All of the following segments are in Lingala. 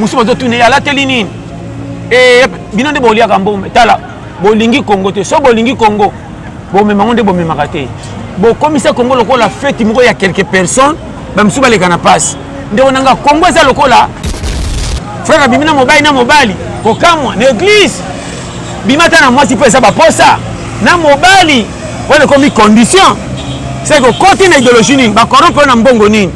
mosusu bazotuna ye alateli nini e, bino nde boliaka mbongo tala bolingi kongo te so bolingi kongo bomema yango nde bomemaka te bokomisa kongo lokola feti moko ya quelque personne bamisusu baleka na mpasi ndeko na nga congo eza lokola frère abimi na mobali na mobali kokamwa na eglise bimata na mwasi mpo eza baposa na mobali wana ekomi condition seke okoti na idéologie nini bakorompe yo na mbongo nini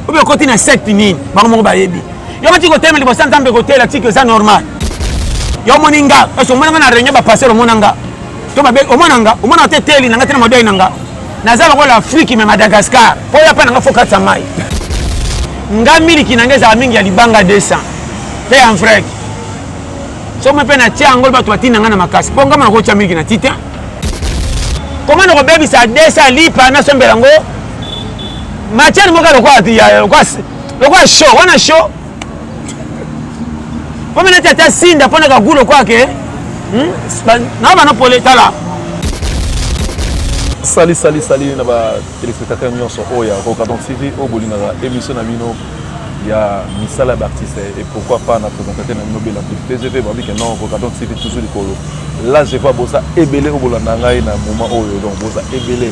obe okoti na secte nini bango moko bayebi yo bati kotelema liboso ya nzambe kotela tiki eza normal yo omoni nga esi omonanga na réunion bapaster omona nga to babe omona nga omona nga te teli na nga te na mabiai na nga naza lokola afriki me madagascar mpo oya mpe na nga fo kati ya mai nga miliki na nga ezala mingi ya libanga 200 mpe ya mfreke soki mpe natya yango bato batinda nga na makasi mpo nga mona kotya miliki na tite koma na kobebisa 200 lipa nasombela yango matière moko lokola lokola show wana show Comme n'a tata sinda pona ka gulo kwa ke. Hmm? Na bana pole tala. Sali sali sali na ba téléspectateurs nyonso oyo ya Rocadon TV oyo bolingaka émission na bino ya misala d'artiste et pourquoi pas na présentateur na bino bela kutu tgv babi ke non Rocadon TV toujours likolo là je vois boza ebele oyo bolanda ngai na moment oyo donc boza ebele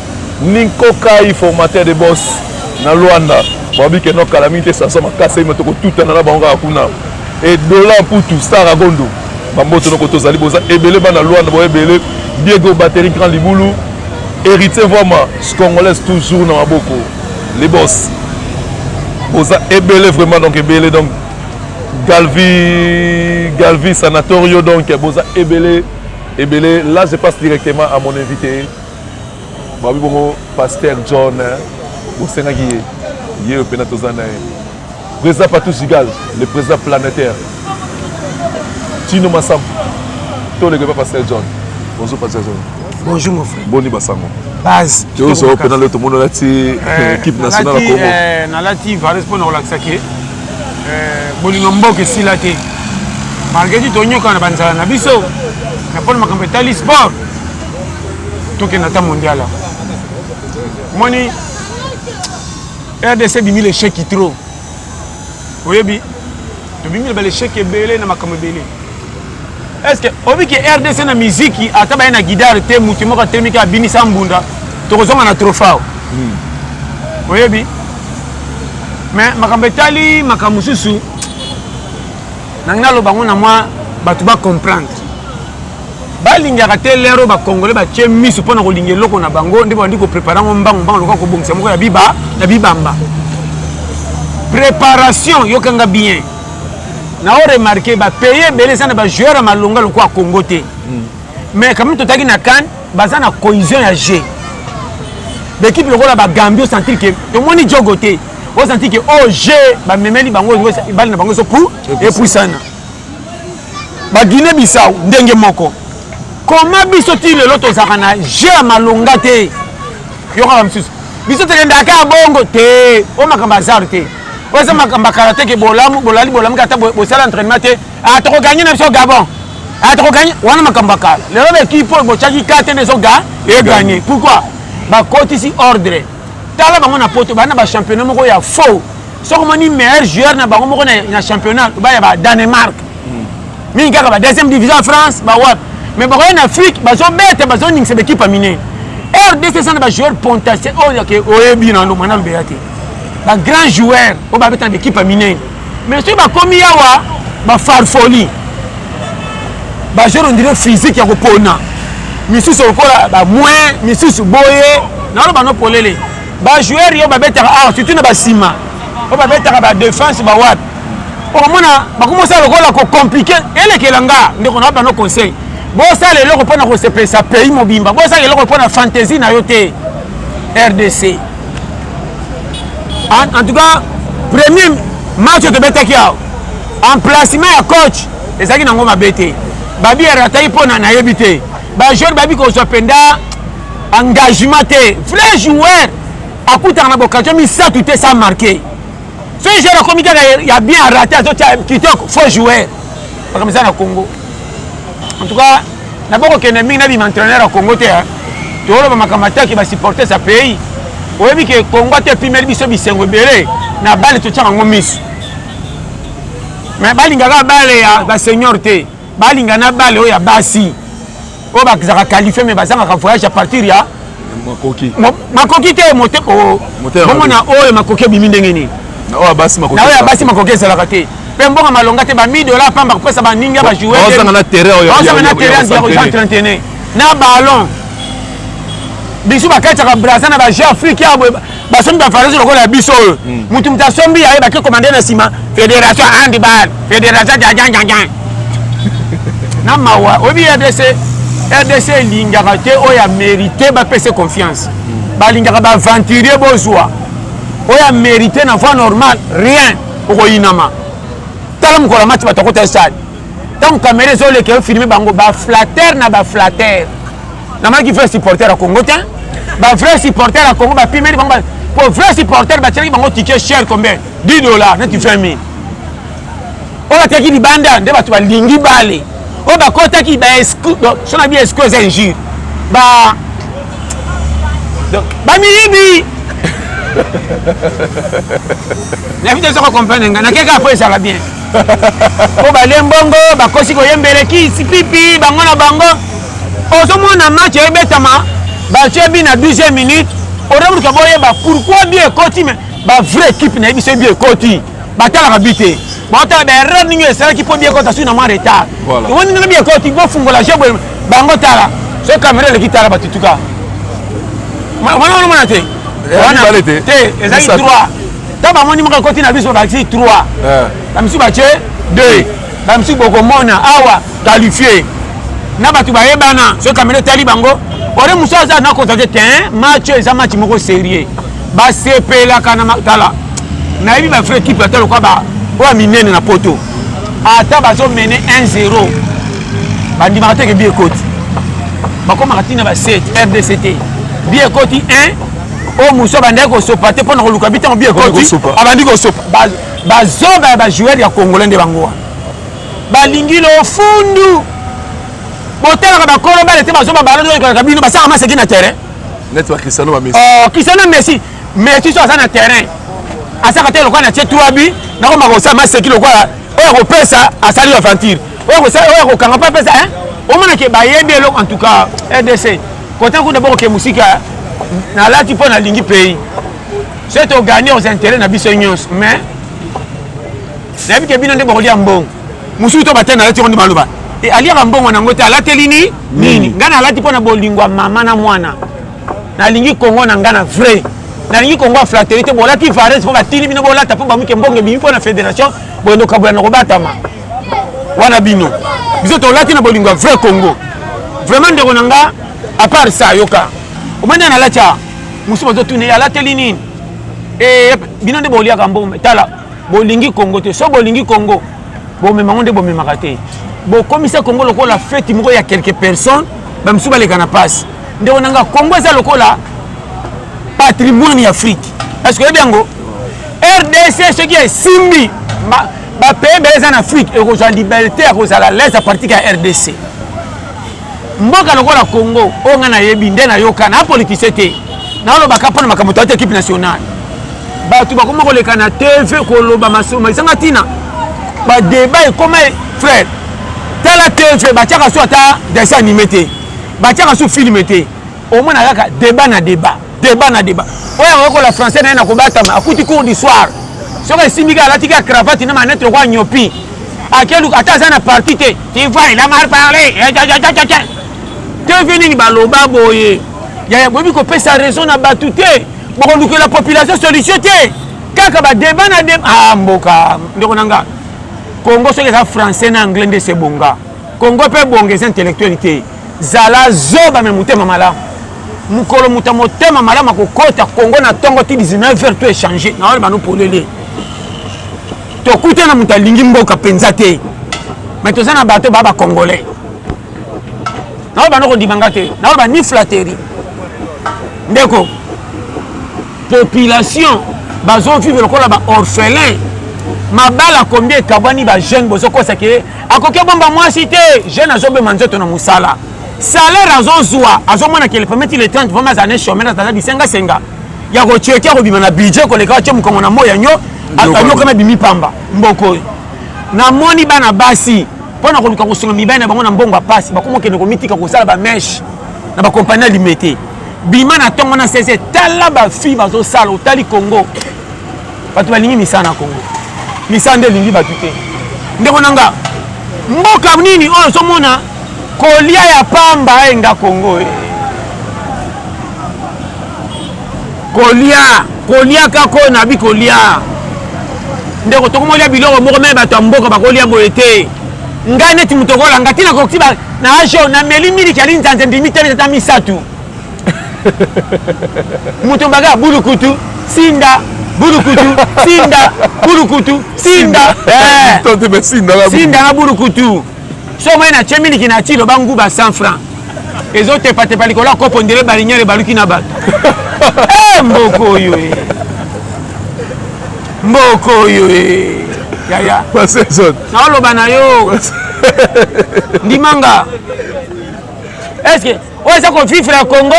Ninko Kai, formateur de boss na Luanda, babi ke no kala mingi te sansa makasi ayima tokotutana na bango kaka kuna. E Dola Mputu, Sara Gondo, bamboto noko tozali boza ebele bana Luanda bo ebele, Diego Batterie Grand Libulu, Héritier Vwama, Congolaise toujours na maboko, les boss. Boza ebele vraiment donc ebele donc Galvi Galvi Sanatorio donc boza ebele ebele là je passe directement à mon invité babi bongo pasteur john bosengaki ye ye oyo mpena toza na ye président patou gigal le président planétaire tino masambo toleka epa pasteur john bonjour pasteur john bonjour mon frère boni basango base tozo mpena leo tomoni olati eh, équipe nationale ya congo eh, nalati vares mpo na kolakisa ke eh, bolingo mboka esila te malgré ti tonyokana na banzala na biso na mpona makambo etali sport tokenda ata mondial yango omoni rdc ebimi lecheki trop oyebi tobimi na balecheki ebele na makambo ebele estce oyebi ke rdc na miziki ata baye na gidare te motu moko atelemiki abinisa mbunda tokozonga na trofao hmm. oyebi me makambo etali makambo mosusu nangi naloba yango na mwa bato bacomprendre balingaka te lere oyo bacongolais batye miso mpo na kolinga eloko na bango nde babandi koprepare yango mbangu mbangu lokola kobongisa moko ya biba na bibamba préparation yokanga bien na o remarke bapays ebele eza na bajoueur ya malonga lokola congo te hmm. mais kamini totaki na kane baza na cohésion ya jeu baekipe lokola bagambie osentir ke tomoni jogo te osentir ke o jeu bamemeli bango bali na bango ezo epusana ba guinee bissau ndenge moko koma biso ti lelo tozalaka na je ya malonga te yokaka mosusu biso tokendaka kaka bongo te o makambo azar te oyo eza makambo ya karateke bolamu bolali bolamu kata bosala entraînement te a ah, tokoganye na biso gabon a ah, tokoganye wana makambo ya kala lelo baekipe oyo botyaki ka te nde ezoga eganye pourquoi bakotisi ordre tala bango na poto baa na bachampionnat moko ya faux soki omoni meilleur joueur na bango moko na championnat baya ba danemark hmm. mingi kaka ba deuxième division ya france bawapi mais bakoya na afrique bazobeta bazoningisa baekipe ya minene rdc eza na bajoueur pontacier oyo oyebi nano mwana lobeya te bagrand joueur oyo babeta na baekipe ya minene mais soki bakomi yawa bafarfoli bajoueur ondire physique ya kopona misusu lokola bamoin misusu boye naloba no polele ba joueur yo babetaka awa ah, surtout na basima oyo babetaka ba défense bawapi okomona bakomosala lokola kocomplike elekela nga ndeko na bano conseil bosala eloko mpo na kosepelisa pays mobimba bosala eloko mpo na fantaisie na yo te rdc en, en tout cas premier match oyo tobetaki awa emplacement ya coach ezalaki nango mabe te babi arataki mpo na nayebi te bajeune babi kozwa mpenza engagement te vrai joueur akutaka na boccasion misato te sa marke soki joueur akomi kaka ya bien arate azotya kitoko faux joueur makambo eza na congo en tout cas nabokokende mingi nabima entraîneur ya congo te toloba makambo ataki basupporters ya pays oyebi ke congo ata epimeli biso bisengo ebele na bale totyaka yango miso me balingaka bale ya basenior te balinga na bale oyo ya basi oyo bazalaka qualifie mais bazangaka voyage à partir ya makoki makoki te mote bomona oyo makoki ebimi ndenge nini na oyo ya basi makoki ezalaka te mpe mbongo malonga te ba 1000 dollars pamba kopesa baninga bajoueozanga na terrain ya 31 na ballon bisu bakataka braza na baje afrique ya basombi bafarisi lokola biso oyo hmm. mutu mutu asombi yaye bake komande na nsima fédération handball fédération jajanjanjan na mawa oyebi rdc rdc elingaka te oyo amerite bapese confiance hmm. balingaka baaventurier bozwa oyo amerite na voie normale rien okoyinama tala mokolo ya match bato akota stade ntango kamera ezoleka yo filme bango baflatere na baflatere namanaki vrai supporter ya congo te bavrai supporter ya congo bapimeli bango po vrai supporter batyelaki bango tike cher combien 10 dollar neti 20 mille oyo batyaki libanda nde bato balingi bale oyo bakotaki so na bi esco eza injure ba bamiyibi nayebi te soko comprendre ngai nakeka po ezala bien po balie mbongo bakosi koyembele kisi pipi bango na bango ozomona match ebetama batie bi na 12 minute oreburuka boyeba pourquoi bi ekoti me bavrai équipe na ye biso bi ekoti batalaka bi te baotala baerreur ndenge esalaki mpo bi ekota sui na mwa retard omoni ndenge bi ekoti bofungola je boye bango tala soki kamera eleki tala batutuka wana onomona te wana te ezalaki 3 ntango bamoni moko ekoti na biso bakisi 3 bamisusu batie 2 bamisusu bokomona awa qualifie na bato bayebana soki kamera etali bango ore mosusu aza na konstate te match oyo eza match moko serieux basepelaka na matala nayebi bafrai ekipe ata lokwa ba oyo ya minene na poto ata bazomene 1-0 bandimaka te ke bi ekoti bakomaka ntina ba 7 rdc te bi ekoti 1 oyo mosusu abandaki kosopa te mpo na koluka bi ntango bi ekoti abandi kosopa bazoba ya bajoueur ya congolais nde bango wana balingi lofundu botalaka bakolo bale te bazoba balaokolaka bino basaka maseki na terrain cristiano oh, messi messi so aza na terrain asaka te lokola na tie tuabi nakoma kosala maseki lokola oyo akopesa asali aventure oyo akokanga mpe apesa omonake bayebi eloko en tout cas rdc kota kuna bokoke mosika nalati mpo nalingi pays soki togani aux intérêt na biso nyonso mais nayebi ke bino nde bokolia mbongo mosusu to batene alati yango nde baloba e, aliaka mbongo nango te alateli ni nini ngai nalati mpo na bolingo ya mama na mwana nalingi kongo na ngai na vrai nalingi kongo ya flateri te bolati varese mpo batindi bino bolata mpo bamuke mbongo ebimi mpo na fédération boyendo kabola na kobatama wana bino biso tolati na bolingo ya vrai congo vraiment ndeko na nga apart sa yoka omani analati a mosusu bazotuna ye alateli nini e, bino nde boliaka mbongo tala bolingi kongo te so bolingi kongo bomema yango nde bomemaka te bokomisa kongo lokola feti moko ya quelque personne bamisusu baleka na mpasi ndeko na nga kongo eza lokola patrimoine ya afrique eske oyebi yango rdc soki esimbi bapays ebele eza na afrique ekozwa liberté ya kozala lese ya partike ya rdc mboka lokola congo oyo ngai nayebi nde nayoka na politise te nalobaka mpo na makambo toyaki ekipe nationale bato bakoma koleka na tv koloba masolo maisanga ntina badeba ekoma e, frère tala tv batiaka so ata dessin anime te batiaka so filme te omona kaka deba na deba Deba na deba. Oyo yango kola français na ye na kobatama akuti cours du soir. Soki esimbi kaka alati kaka cravate na manette lokola nyopi. Akeluka ata aza na parti te. Tu vois, il a mal parlé. Te vie nini baloba boye. Yaya boyebi kopesa raison na bato te. Bokolukela population solution te. Kaka ba deba na deba. Ah mboka ndeko na nga. Congo soki eza français na anglais nde se bonga. Congo mpe bonga eza intellectuel te. Zala zoba me motema malamu. Mokolo moto motema malamu akokota Kongo na tongo ti 19h to échanger na wale bano polele. Tokutana moto alingi mboka penza te. Mais toza na bato ba ba Congolais. Na wale bano kondima nga te. Na wale ba ni flatterie. Ndeko population bazo vivre lokola ba orphelins mabala combien ekabwani ba jeune bozokosa ke akoki abomba mwasi te jeune azobema nzoto na mosala salaire azozwa azomona ke le premier ti le 30 vraimen azala ne chomere aza bisengasenga ya kotieki akobima na budget koleka atye mokongo na moya nyo anyokana bimi pamba mboko oyo namoni bana basi mpo na koluka kosunga mibali na bango na mbongo ya mpasi bakoma okende komitika kosala bameshe na bakompani ya limete bima na ntongo na sese tala bafille bazosala otali congo bato balingi misala na congo misala nde elingi bato te ndeko na nga mboka nini oyo ozomona kolia ya pamba enga congo e kolia kolia kaka oyo nabi kolia ndeko tokomolia biloko moko me bato ya mboka bakolia boye te ngai neti moto okolanga te nakoki na ajo nameli miliki ya linzanza ndimi te ata misato moto mbaka ya bulukutu sinda bulukutu sinda bulukutu sinda eh. sinda na bulukutu so omoi na tie miliki na ti loba nguba 100 franc ezotepatepa likolo ya kopo ndele baliniere baluki na bato eh, mboko oyo eh. mboko oyo yaya naoloba na yo ndimanga eske oyo eza ko vivre ya congo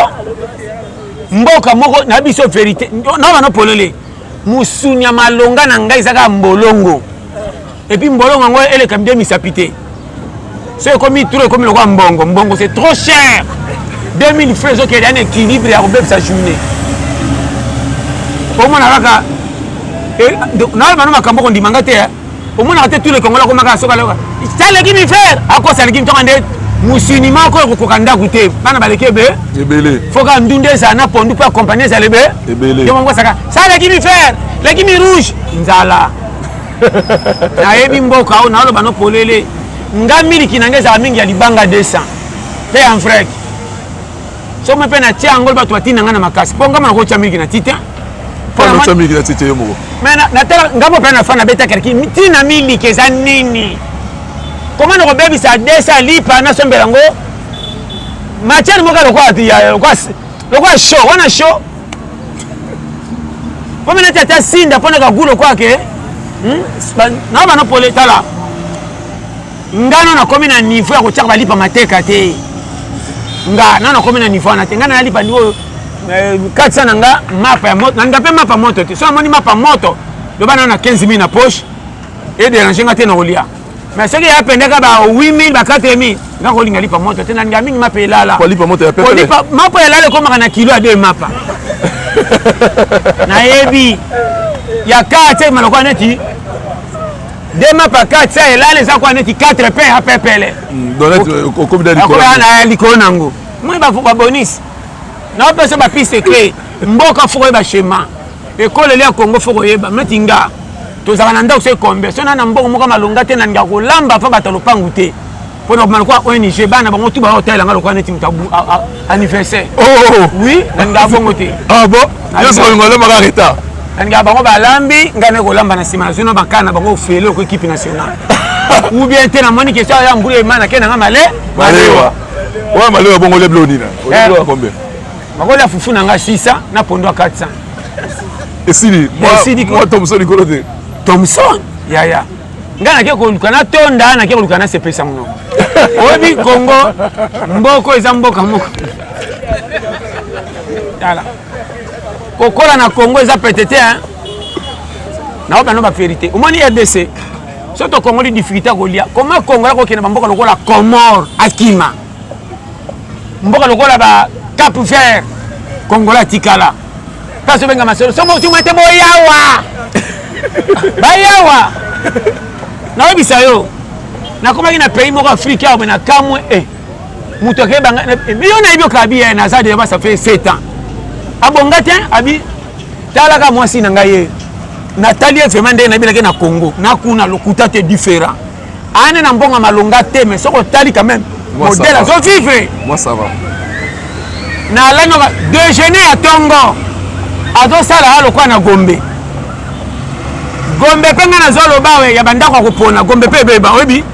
mboka moko na biso verité naba no polele mosuni ya malonga na ngai eza kaka mbolongo epuis mbolongo yango eleka mide misapi te so ekomi tro ekomi lokola mbongo mbongo c'est trop cher 2000 frais ezokende ya na équilibre ya kobebisa journée omona kaka eh, nayebano makambo okondima ngai te eh. omonaka te tout le congolais akomaka soki aloka saleki mi frère akosa leki ntonga nde mosuni moko ekokoka ndako te bana baleki ebe ebele foka ndunda ezala na pondu mpo akompagne ezala ebe ebele yo mongo osaka saleki mi frère leki mi rouge nzala nayebi mboka oyo naoloba no polele nga miliki na nga ezala mingi ya libanga 200 mpe ya mfrek soki mpe natia yango bato batinda ngai na makasi mpo ngai nakotya miliki na tite mponatya miliki na tite yo moko natala ngai mpe nafana nabeta kelki ntina miliki eza nini koma nakobebisa desa lipa nasombela yango matière moko lokola show wana show mpo mpe nati ata sinda mpo na kagu lokola ke hmm? na banopole tala nga nano nakomi na niveau ya kotiaka balipa mateka te nga nano nakomi na niveau wana te nga nayalipa niveau oyo eh, katisa na nga mapa ya moto nalinga mpe mapa moto te so namoni mapa moto loba nano na 15 mille na poche ederange nga te na kolia mais soki ya pendaka ba 8000 ba 4000 nga kolinga lipa moto te nalinga mingi mapa elala kolipa moto ya pepe kolipa mapa elala ekomaka na kilo ya deux mapa nayebi ya karte malokola neti dema pakati ya elala eza kwa neti 4 pe ya pepele okoya na likolo nango moi babonisi nao mpenso bapiste te mboka foko oyeba shema ekoleli ya kongo foko oyeba neti nga tozalaka na ndako so ekombia so na na mbongo moko malonga te nalinga kolamba mpo bato ya lopangu te mpo na kobima lokola ong bana bango tu bayo otalela nga lokola neti moto anniversaire oh, oh, oh. oui nalingaka bongo te ah bon nyonso kolinga olembaka retard nalingaka bango balambi ngai naye kolamba na nsima nazwi na bakana na bango ofele oko ekipe nationale ou bien te namoni question ya mbula ema nake nanga male malewa oyo malewa bongo olebla onina olebla eh. combien bakolia fufu na ngai 600 na pondo ya 400 esili esili moto mosusu likolo te thomson yaya ngai nake koluka natonda nake koluka nasepelisa monoko oyebi kongo mboko eza mboka moko tala kokola na kongo eza pete te naobi bano baverité omoni rdc so tokongoli difficulté ya kolia koma kongo ya kokende bamboka lokola comore akima mboka lokola ba cap vert kongola atikala place obenga masolo somo otuma te boyawa bayawa nayebisa yo nakomaki na pays moko afrike awa me na kamwe e eh, moto akebanga eh, yo nayebi okabi ye eh, naza deja basa fe 7 ans abonga te abi talaka mwasi na ngai ye natali ye vraimen ndenge nayebelaki na congo nakuna lokuta te différent ane na mbongo ya malonga te mais soki otali quand même modèle azo vivre moi ça va na lano déjeuner ya tongo azosala ya lokola na gombe gombe mpe ngai nazoloba we ya bandako ya kopona gombe mpe ebeba oyebi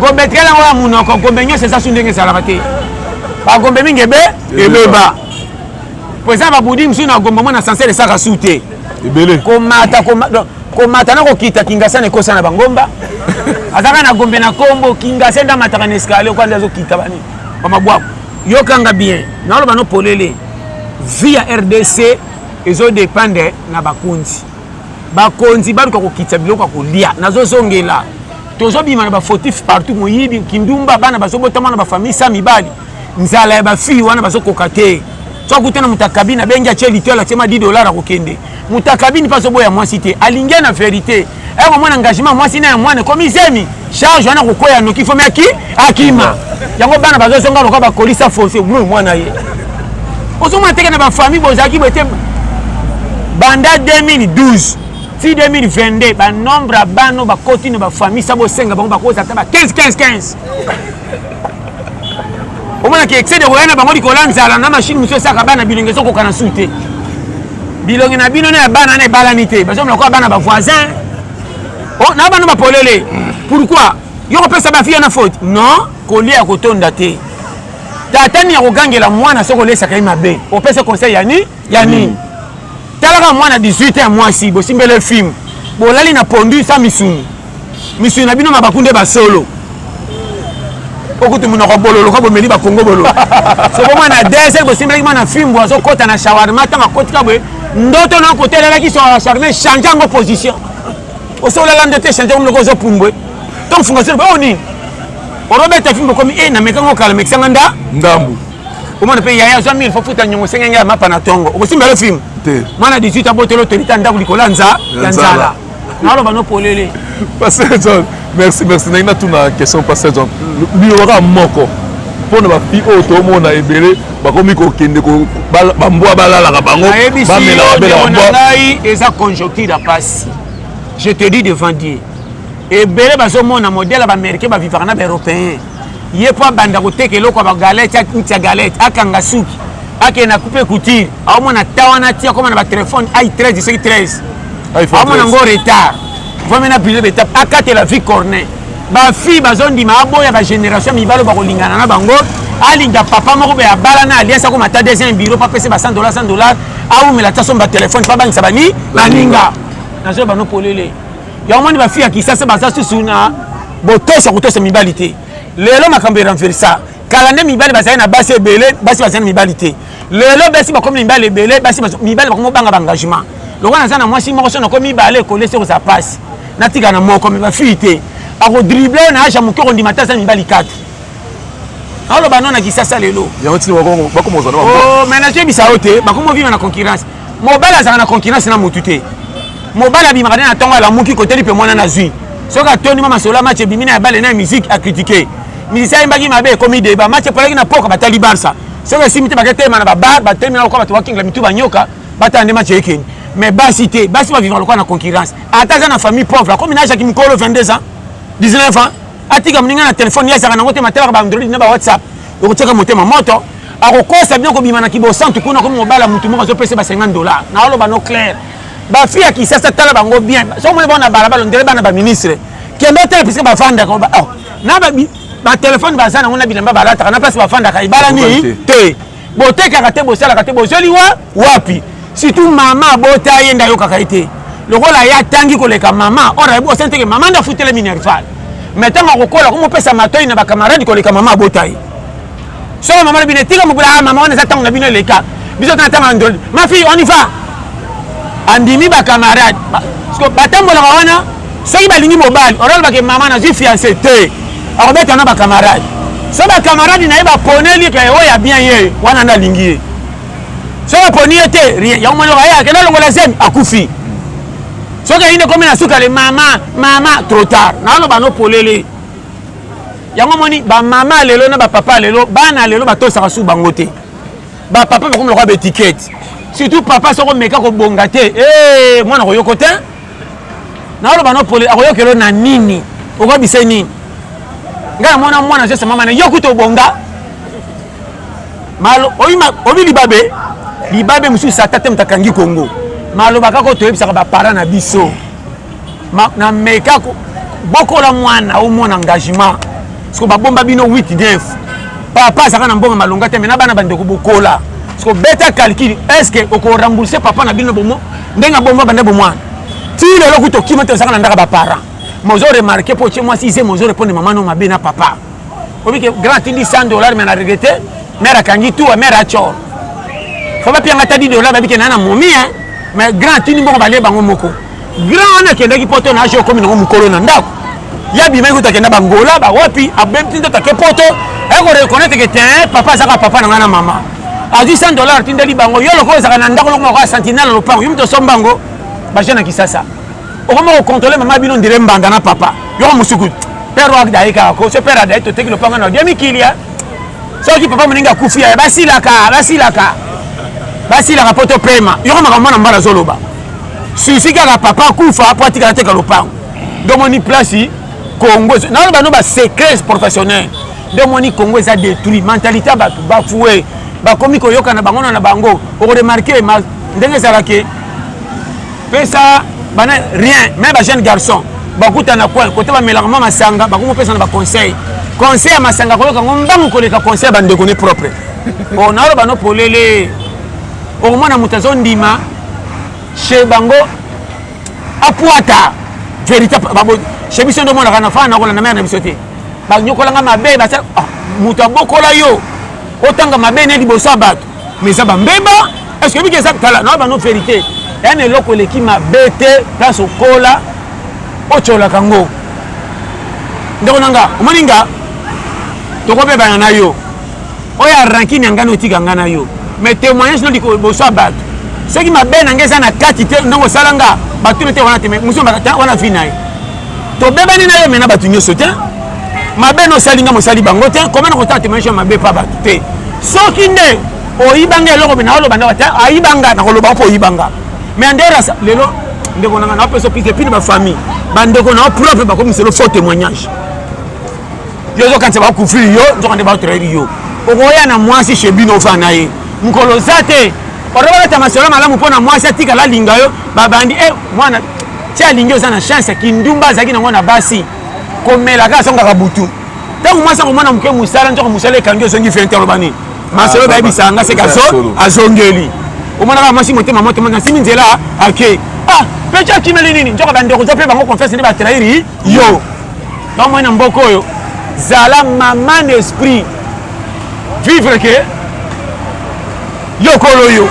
gombe etikali yango ya monoko gombe nyonso eza su ndenge ezalaka te bagombe mingi ebe ebeba mpo eza babudi mosusu na gombe omona sansele esaka su te ebele komata komata na kokita kingasa na ekosa na bangomba azaka na gombe na kombo kingasa nde amataka na escalier kwa nde azokita bani bamabwaku yokanga bien naoloba no polele vie ya rdc ezodepende na bakonzi bakonzi baluka kokitisa biloko ya kolia nazozongela tozobima na bafautif partout moyibi kindumba bana bazobotama na bafamille sa mibali nzala ya bafille wana bazokoka te so akutana moto akabini abengi atie litwala atie ma 10 dollar akokende moto akabini mpe azoboya mwasi te alingi na verité eko mwana engagement mwasi na ya mwana ekomi zemi charge wana kokwea noki fomi aki akima yango bana bazozonga lokola bakolisa fosi mwana ye ozomona teke na bafamille bozalaki bote banda 2012 ti 2022 banombre ya bana bakoti na bafamille sa bosenga bango bakozala ata ba 15 15 15 omonaki excès de koya na bango likolo ya nzala na mashine mosusu esaka bana bilongi ezokoka na su te bilongi na bino na ya bana na ebalani te bazomona kwa bana bavoisin oh, na bana bapolele pourkui yo kopesa bafiya na faute non kolia ya kotonda te tata nini akogangela mwana soki olesaka ye mabe opesa conseil ya nini ya nini mm. talaka mwana 18 ya mwasi bosimbele film bolali na pondu sa misuni misuni na bino mabaku nde basolo okutu monoko bololo ka bomeli bakongo bololo soko mwana desel bosimbelaki mwana fimbo azokɔta na shawarma ntango akotika boye ndoto na kotelelaki shawarma echange yango position osolala ndoto echange yango loko ozopumbwe to mfunga solo oyo oh, nini orobeta fimbo okomi e eh, namekango kala mekisanga nda ndambu omona mpe yaya azwa 1000 fofuta nyongo esenge ngai ya mapa na tongo okosimbela film mwana 18 abotolo tolita ndako likolo ya nza ya nzala naloba no polele pasteur john merci merci nayi natuna question pasteur john liyoka moko mpo na bafi oyo tomona ebele bakomi kokende bambwa balalaka bango bamelaka bela bambwa ngai eza conjoncture ya pasi je te dis devant dieu ebele bazomona modele ya baaméricain bavivaka na baeuropéen ye mpo abanda koteka eloko ya bagalete akuti ya galete akanga suki akende na coupe couture aomona ta wana ti akoma na batelefone ai 13 soki 13 aomona ngo retard vraimen na brise betape akatela vie cornet bafille bazondima aboya bagénération mibalo bakolingana na bango alinga papa moko be abala na alias akoma ta deuxième bureau mpo apesi ba 100 dollar 100 dollar aumela ta somba telefone mpo abangisa bani baninga nazoyeba no polele yango moni bafi ya kisasa baza susu na botoso ya kotosa mibali te lelo makambo eranversa kala nde mibali bazali na basi ebele basi bazali na mibali te lelo basi bakomi na mibali ebele basi mibali bakomi obanga baengagement lokola naza na mwasi moko so nakomi mibale kolesi okozala mpasi natika na moko me bafii te akodrible oyo na age ya moke okondima te aza mibali 4 aloba no na kisasa lelo oh, mais nazoyebisa yo te bakomi ovima na concurrence mobali azalaka na concurrence na motu te mobali abimaka nde na ntongo alamuki koteli mpe mwana nazwi soki atondi mwa masolo ya match ebimi na ya bale na ya musique akritike musicien ayembaki mabe ekomi deba match epolaki na poka batali barça soki esimbi te baketelema na babar batelemi na lokola bato bakingela mitu banyoka batala nde match ekeni mais basi te basi bavivaka lokola na concurrence ata aza na famille pauvre akomi na ajaki mokolo 22 ans 19 ans atika moninga na telefone ye azalaka nango te matalaka baandroid na bawhatsapp okotiaka motema moto akokosa bino kobima na kibosantu kuna komi mobala motu moko azopesa ba 50 dollar naoloba no claire bafi ya kisasa tala bango bien soki omoni bango na balabala ondele bana baministre kende otala piske bafandaka oh, na batelefone baza nango na bilamba balataka na place bafandaka ebalani te botekaka te bosalaka te bozweli wa wapi surtout mama abota ye nde ayokaka ye te lokola ye atangi koleka mama or ayebi osani teke mama nde afutela minerval me ntango akokola komopesa matoi na bakamarade koleka mama abota ye soko mama na bino etika mokula ah, mama wana eza ntango na bino eleka biso tana ntango andoli ma fille on y va andimi bakamarade batambolaka wana soki balingi mobali okolobaka ke mama nazwi fiance te akobeta na bakamarade so bakamarade na ye baponeli ke oyo ya bien ye wana nde alingi ye so baponi ye te rien yango moni oyo akenda alongola zemi akufi soki ayini ekomi na suka le mama mama trop tard naoloba no polele yango moni bamama lelo na bapapa lelo bana lelo batosaka su bango te bapapa bakomi lokola baetikete surtout papa soko meka kobonga te eh, mwana koyoko te naoloba no pole akoyokelo na nini okobise nini ngai namona mwana jese mama na yo kuta obonga obi libabe libabe mosusu sata te moto akangi kongo maloba kaka toyebisaka baparent na biso nameka bokola mwana omona engagement siko babomba bino 8 9 papa azalaka na mbongo malonga te me na bana bandeko bokola siko beta calcul est ce que okorembourse papa na bino bomo ndenge abomba banda bomwana ti lelo kuta okima te ozalaka na ndaka baparent mozo remarke mpo otie mwasi ize mozo reponde mama no mabe na papa obi ke grand atindi 100 dollar me na regrete mare akangi tuwa mare acor fo bapianga ta 10 dollar babi ke naa na momi mais grand atindi mbongo balie bango moko Grand wana akendaki poto na aje okomi nango mokolo na ndako. Ya bimaki kutu akenda bangola bawapi abemti ndoto ake poto ayako reconnaître ke te papa azaka papa na ngai na mama azwi 100 dollar atindeli bango yo lokola ozalaka na ndako loko moko ya sentinelle na lopango yo moto osomba yango baje na kisasa okoma kocontrole mama bino ndire mbanda na papa yoko mosuku père wakda aye kaka ko so père adaye toteki lopango na odiami kilia soki papa moninga akufi yaye basilaka basilaka basilaka mpo topema yoko makambo mwana mbala azoloba susi kaka papa akufa mpo atikala teka lopango nde omoni place congo nano bano basecrets professionnel nde omoni congo eza détruit mentalité ya bato bafue bakomi koyokana bango na bango okoremarke ndenge ezalaki pesa bana rien me bajeune garçon bakutana coin kote bamelaka mwa masanga bakomopesana baconseil conseil ya masanga koyoka ngo mbangu koleka conseil ya bandeko ne propre o naloba no polele okomona moto azondima chez bango apuata verité bango chez biso nde omonaka na fana nakola na mare na biso te banyokolanga mabe basala ah, moto abokola yo otanga mabe ne liboso ya bato mais eza bambeba est ce que biki eza tala na bano verité ya na eloko eleki mabe te place okola otyolaka ngo ndeko na nga omoni nga tokobebana na yo oyo ya rankine ya ngai na otika ngai na yo mais témoignage no liboso ya bato soki mabe na ngai eza na kati te ndenge osala nga batuna te wana te mais mosu wana vi na ye tobebani na yo me na bato nyonso te mabe na osali nga mosali bango te koma na kotala témoignage ya mabe mpa bato te soki nde oyibanga eloko me naoloba ndako te ayibanga nakoloba mpo oyibanga mais anderasa lelo ndeko nanga naopesa opike pini bafamille bandeko nao propre bakomiselo faux témoignage yo ozokanisa bakufili yo nzoka nde batrahiri yo okoya na mwasi chez bino ofana na ye mokolo oza te otobalata masolo malamu mpo na mwasi atikala alinga yo babandi e mwana ti alingi oza na chance kindumba azalaki nango na basi komela kaka azongaka butu ntango mwasi akomona moke mosala nzoko mosala ekangi ozongi fente aloba nini masolo ah, bayebisaka nga seke azongeli omonaka mwasi motema moto moto nasimi nzela ake ah mpe ti akimeli nini nzoko bandeko oza mpe bango confiance nde batrahiri yo Ba mwana mboka oyo zala maman esprit vivre que yokolo yo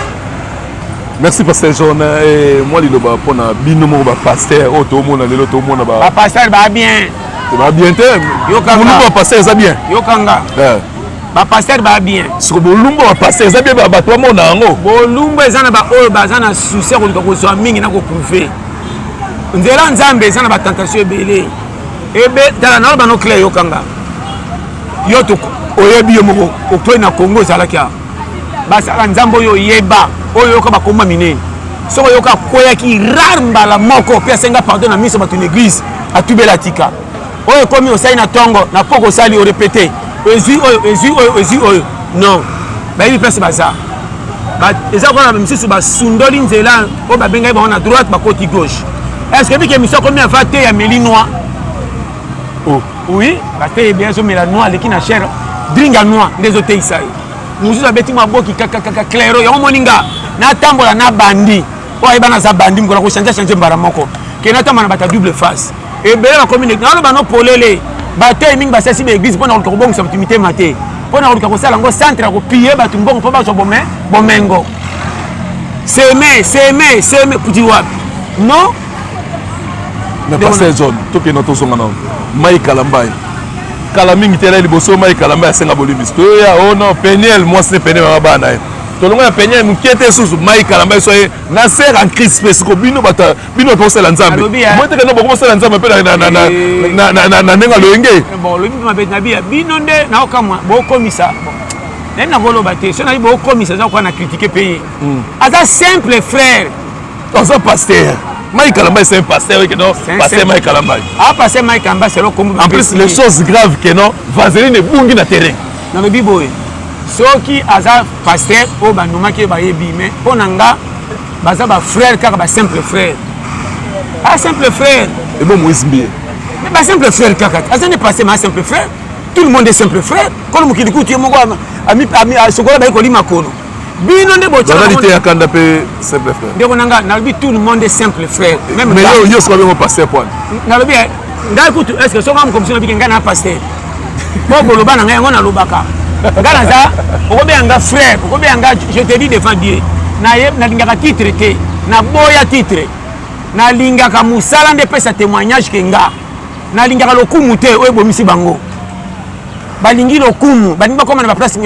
merci pasteur john eh, mwa liloba mpo na bino moko bapaster oyo tomona lelo tomona bapaster ba bien ba bien te bolumbu ya paster eza bien yokanga eh. bapaster ba bien soko bolumbu ya paster eza bien bato bamona yango bolumbu eza na baoyo baza na susi ya koluka kozwa mingi na koprouve nzela nzambe eza na batentation ebele ebe tala na bano claire yokanga yo oyebi yo moko okwei na congo ezalaki a basala nzambe oyo oyeba oyo oyoka bakoma minei soki oyoka akweyaki rare mbala moko mpe asenga pardon na miso bato na eglise atubela atika oyo ekomi osali na ntongo na poko osali orepete ezwi oyo ezwi oyo ezwi oyo non bayebi place baza eza lokola na misusu basundoli nzela oyo babengaki bango na droite bakoti gauche est ce que bike misu akomi ava te ya meli noir oh. oui bateye bien azomela noir aleki na chere dringa noir nde ezoteyisa ye mosusu abeti mwa boki kakakaka clairo yango omoni nga natambola na bandi oyo ayeba naza bandi mokona kochange change mbala moko ke natambola na bato ya double face ebele bakomi ndenge naloba no polele batei mingi basalisi baeglize mpo na koluka kobongisa bato mitema te mpo na koluka kosala yango centre ya kopie bato mbongo mpo bazwa bomengo seme seme seme kuti wapi no mais pasteur john tokenda tozonga na mai kalambai kala mingi te na liboso mai kalambai asenga bolimbisi toyoya o oh no peniel mwasi ne peniel mama bana ye tolongo ya peniel moke te susu mai kalambai so ye na ser en crise mpe siko bino bato bino bape kosala nzambe botika no boko bosala nzambe mpe na ndenge aloyenge bino nde naokamwa bokomisa nayebi nakoloba te so nayebi bokomisa eza koka na kritike mpe ye hmm. aza simple frère aza paster Mike Kalamba c'est un pasteur que non pasteur Mike Kalamba ah pasteur Mike Kalamba c'est le combo en plus les choses graves que non Vaseline ebungi na terrain na lobi boye soki aza pasteur oyo bandumaki ye bayebi mais mpo na nga baza ba frère kaka ba simple frère a simple frère ebo moise mbiye mais ba simple frère kaka aza ne passé ma simple frère tout le monde est simple frère kono mokili kutu ye moko sokola bayi koli makono bino nde botyakanda mpe simple frère ndeko na ngai nalobi tout le monde est simple frère mais yo soka bengo pasteur poine nalobi eh, ngai kutu est ce que soka mokomiso nabike ngai na pasteur mpo koloba na ngai yango nalobaka nga naza okobeya nga frère okobeya nga je te dis devant dieu nalingaka titre te naboya titre nalingaka mosala nde epesa témoignage ke nga nalingaka lokumu te oyo ebomisi bango balingi lokumu balingi bakoma na baplace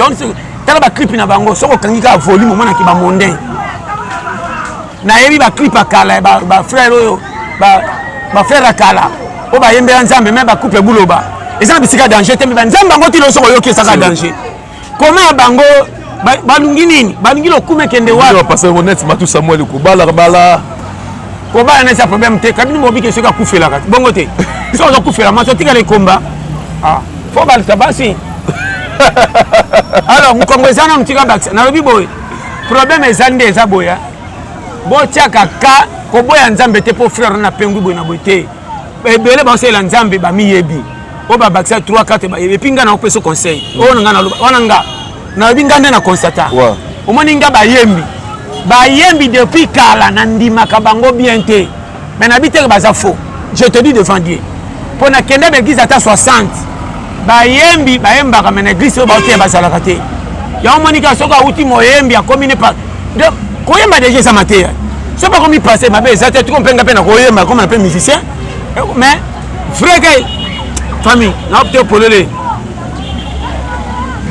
tala baclipe na bango soki okangi kaka volume omonaki bamondain nayebi baclip ya kala ya bafrere oyo bafrere ya kala oyo bayembela nzambe me bacouple buloba eza na bisika danger te me banzambe yango ti loso koyoki esaka danger koma ya bango balingi nini balingi lokumu ekende wapisamuel kobala bala kobala na eza problème te kabini mobiki soki akufelaka bongo te soki ozokufela maso otikala ekomba ah, fo balisa basi alors mokongo eza na motika bakisa nalobi boye problème eza nde eza boya botiaka ka koboya nzambe te mpo frère na pengwi boye na boye te ebele baosalela nzambe bamiyebi oyo babakisa 3 4 bayebi epi ngai nakopesa conseil oyo nanga naloba wana nga nayebi ngai nde na constata omoni nga bayembi bayembi depuis kala nandimaka bango bien te mais nabi teke baza faux je te dis devant dieu mpo na kenda na eglise ata 60 bayembi bayembaka me na eglise oyo baoteya bazalaka te yango monika soki awuti moyembi akomi ne koyemba deja eza mateya so bakomi passe mabe eza te tiko mpenga mpe na koyemba akomi na mpe musicien mais vrai ke famille naopte polele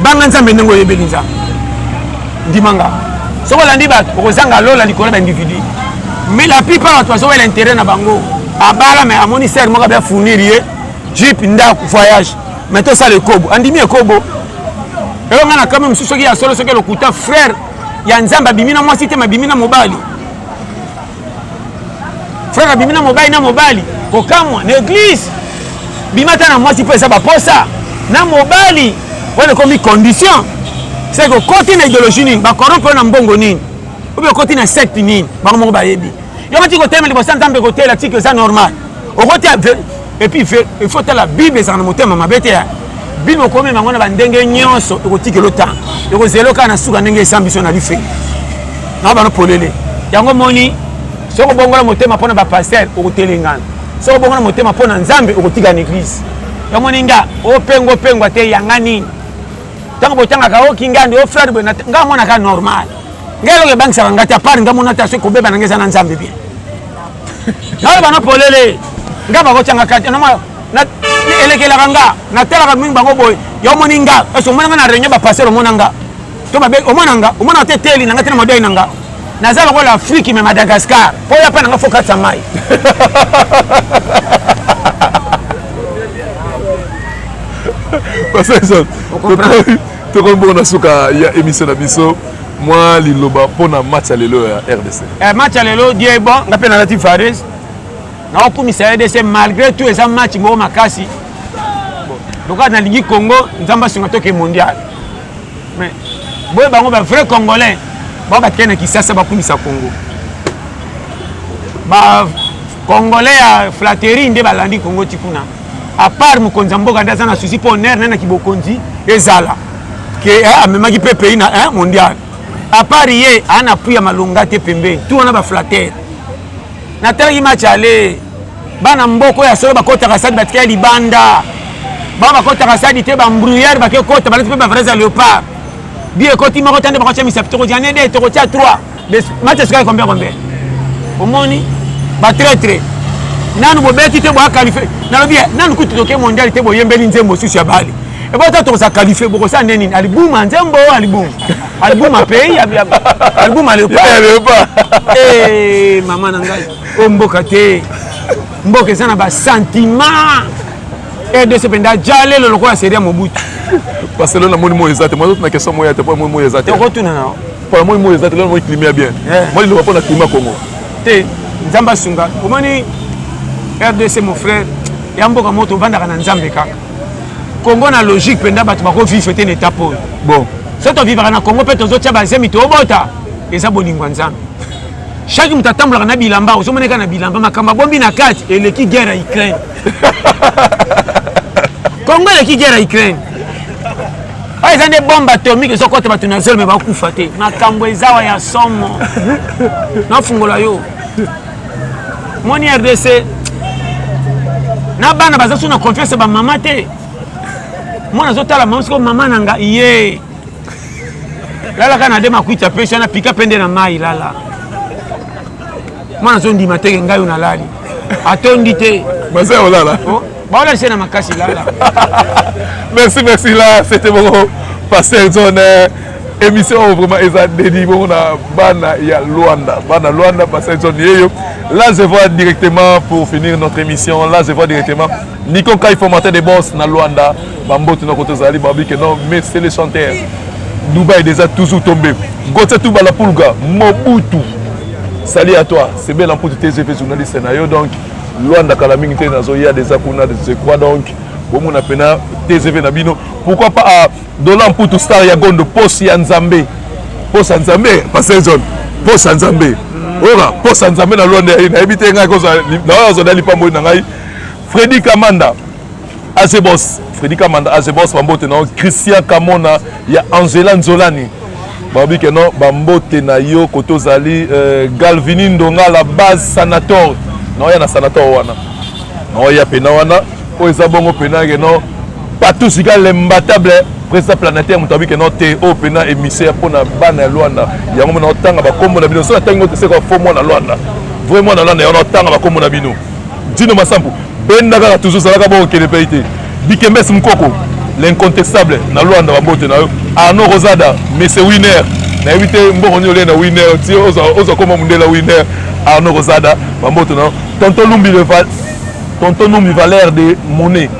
banga nzambe ndenge oyebeli nzambe ndimanga soki olandi bato okozanga lola likolo ya baindividu mais la plupart bato bazowela intérêt na bango abala mais amoni sere moko abia fournir ye jip ndako voyage mais tosala ekobo andimi ekobo eyo ngai na kame mosusu soki ya solo soki lokuta frère ya nzambe abimi na mwasi te mabimi na mobali frère abimi na mobali na mobali kokamwa na eglise bima ata na mwasi mpo eza baposa na mobali wana ekomi condition seke okoti na ideologie nini bakorompe na mbongo nini obe okoti na secte nini bango moko bayebi yo koti kotelema liboso ya nzambe kotela tiki eza normal okotia epuis il faut tala bible ezalaka na motema mabe te bino okomema yango na bandenge nyonso ekotikelo ntango ekozela kaka na suka ndenge esambi biso na life na bano polele yango moni soki obongola motema mpo na bapaster okotelengana soki obongola motema mpo na nzambe okotika na eglize yango moni nga opengo opengwa te yanga nini ntango botangaka o oh, kingandi o oh, frere boye nga amonaka normal ngai eloko ebangisaka ngai te apart nga mona te soki kobeba na ngai eza na nzambe bien nayo bana polele nga bakotyanga kati elekelaka nga natalaka mingi bango boye yo omoni nga ese omona nga na réunion bapasere omona nga to babe omona nga omona te teli na nga te na madoi na nga naza lokola afriki me madagascar mpo ya mpe na nga fo katisa mai tokomi bongo na suka ya émission na biso mwa liloba mpo na match ya lelo ya rdc eh, match ya lelo die bon nga mpe nalati fares naokumisa rdc malgré tout eza match moko makasi lokola nalingi congo nzambe asunga toke mondial mais boye bango bavrai congolais bango batikali na kisasa bakumisa congo bacongolais ya flatterie nde balandi congo ti kuna à part mokonzi ya mboka nde aza na souci mpo honneur naye na kibokonzi ezala ke eh, amemaki mpe pays na eh, mondial à part ye aa na pui ya malonga te pembeni tu wana baflatere natalaki match ale bana mboko ya solo bakotaka stade batikaya libanda bango bakotaka stade te bambruyere bakekota balati mpe bavrais ya léopard bi ekoti moko ta nde bakotyamisa tokotyane de tokotya 3 match esikaki combien combien omoni ba traitre nanu bobeti te boya qualifie nalobi nanu kutu toke mondial te boyembeli nzembo susu ya bali ebo ata tokoza qualifie bokosala nde nini alibuma nzembo alibuma alibuma pays alibuma leopa eh, mama na ngai o mboka te mboka eza na basentiment rdc mpenza jalelo lokola seria mobutu barcelone amoni moyo eza te mwa totuna question moya te mpo amoni moyo eza te okotuna nao pona moi moi eza te lelo moi climat ya bien moi liloba pona climat congo te nzambe asunga omoni rdc mon frère ya mboka moto obandaka na nzambe kaka congo na logique mpenza bato bakovivre te na état pole bon so tovivaka na congo mpe tozotya bazemi tobota eza bolingo ya nzambe chaque moto atambolaka na bilamba ozomoneka na bilamba makambo abombi na kati eleki guerre ya ukraine congo eleki guerre ya ukraine oyo eza nde bombe atomike ezokota bato na zelo me bakufa te makambo ezawa ya somo nafungola yo moni rdc na bana baza so na confiance ya bamama te mwana azotala mama siko mama na nga ye lalaka na de makwiti apesi wana pika mpe nde na mai lala mwana azondima teke ngai oyo nalali atondi te baza olala oh. baola se na makasi lala merci merci la c'était bongo pasteur john eh, émission oyo vraiment eza dedi bongo na bana ya luanda bana luanda pasteur john yeyo là je vois directement pour finir notre émission là je vois directement nico kai formateur de boss na luanda bambotu na koto ezali babi ke non mais c'est le chanteur dubai déjà toujours tombé gotia tubala pulga mobutu Salut à toi, c'est Bel Ampoute TGV, journaliste Nayo. Donc, Luanda kala mingi te nazo ya deja kuna je crois donc bomona pena TGV na bino pourquoi pas ah, Dola Mputu star ya Gondo posi ya Nzambe posa Nzambe pasteur John posa Nzambe oyoka posa Nzambe na Luanda nayebi te ngai kozala na oyo azwa na lipamboli na ngai Freddy Kamanda Azebos Freddy Kamanda Azebos bambote na yo Christian Kamona ya Angela Nzolani balobi ke non bambote na yo kote ozali euh, Galvini Ndonga la base sanator naoya na sanator wana naoya mpena wana oyo eza bongo mpena ke non partout sika l'imbattable président planétaire moto abiki no te oyo mpena émissaire mpo na bana ya lwanda yango mona otanga bakombo na bino soki atangi ngo te seka fo mwana lwanda vrai mwana lwanda yango na otanga bakombo na bino Dino Masampu benda kaka toujours zalaka boko kende pe te Dikembes Mukoko l'incontestable na Luanda ba mbote na yo Arnaud Rosada Monsieur Winner na yebi te mboko nyo le na Winner ti ozo koma mundela Winner Arnaud Rosada ba mbote na yo Tonton Lumbi le Val Tonton Lumbi valeur de monnaie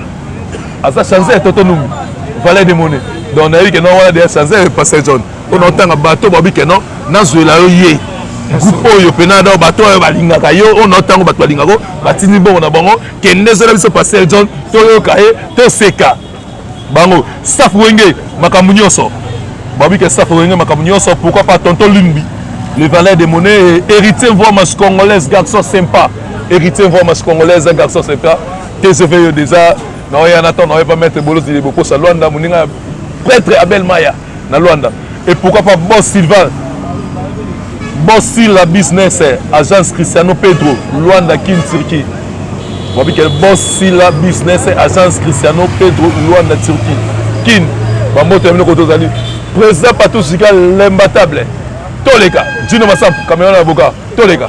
aza chanzer Tonton Lumbi valeur de monnaie donc na yebi ke na wana de chanzer Pasteur John mpona otanga bato babi ke non nazwela yo ye groupe oyo mpe nada bato oyo balingaka yo oyo nao ntango bato balingaka batindi bongo na bango kende zela biso pasteur john toyoka ye toseka bango staff wenge makambo nyonso babi ke staff wenge makambo nyonso pourquoi pas tonton lumbi le valet de monnaie héritier voimas congolaise garçon sympa héritier voimas congolaise garçon sympa tcv yo déjà naoya na temps naoye pa maître bolozili bokosa lwanda moninga prêtre abel maya na Luanda et pourquoi pas boss Sylvain boss Sila business agence Cristiano Pedro Luanda Kin Turquie wabi quel boss Sila business agence Cristiano Pedro Luanda Turquie Kin ba moto ya biloko tozali président Patou Sika l'imbattable toleka Dino Masampu Cameroun avocat toleka